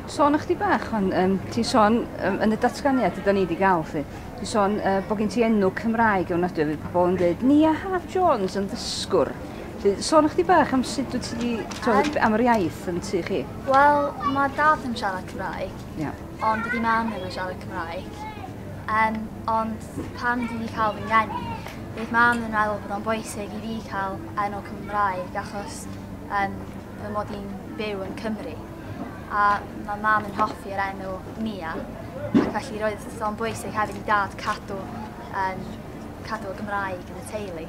Sôn ychydig bach, ond um, ti'n sôn um, yn y datganiad ydyn ni wedi gael, fi. Ti'n sôn uh, bod gen ti enw Cymraeg o'n adwy, fi pobl yn dweud, Nia Haf Jones yn ddysgwr. Felly, sôn ychydig bach am sut wyt ti wedi, am yr iaith yn tu chi. Wel, mae dad yn siarad Cymraeg, yeah. ond dydy mam ddim yn siarad Cymraeg. Um, ond pan dwi wedi cael fy ngeni, bydd mam yn meddwl bod o'n bwysig i fi cael enw Cymraeg, achos um, fy mod i'n byw yn Cymru a mae mam yn hoffi yr enw Mia ac felly roedd o'n bwysig hefyd i dad cadw um, cadw y Gymraeg yn y teulu.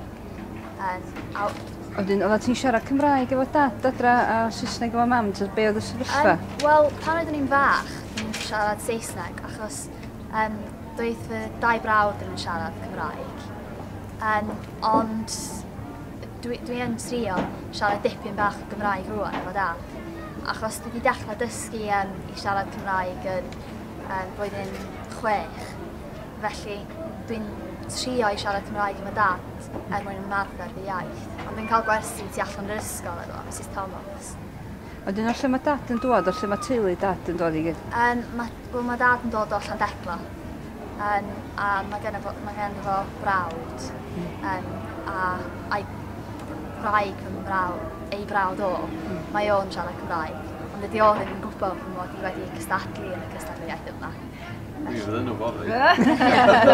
Um, a... Oedden, oedden ti'n siarad Cymraeg efo dad adra a Saesneg efo mam, ta be oedd y sefyllfa? Um, Wel, pan oeddwn i'n fach, ni'n siarad Saesneg achos um, doedd fy dau brawd ddim yn siarad Cymraeg. Um, ond Dwi, dwi yn trio siarad dipyn bach o Gymraeg rwan efo dad, achos dwi wedi dechrau dysgu um, i siarad Cymraeg yn um, blwyddyn chwech. Felly dwi'n trio i siarad Cymraeg efo dad er mwyn ymarfer fy iaith. Ond dwi'n cael gwersi tu allan yr ysgol efo Mrs Thomas. A dyna lle mae dad yn dod, o lle mae teulu dad yn dod i gyd? Um, mae Wel ma' dad yn dod o Llandecla yym a ma' genno fo ma' ganddo fo frawd yym a a'i gwraig fy mrawd ei frawd o mae o'n siarad Cymraeg ond dydi o ddim yn gwbo fy mod i wedi cystadlu yn y cystadleuaeth yma. Dwi ddim yn wbod 'fyd.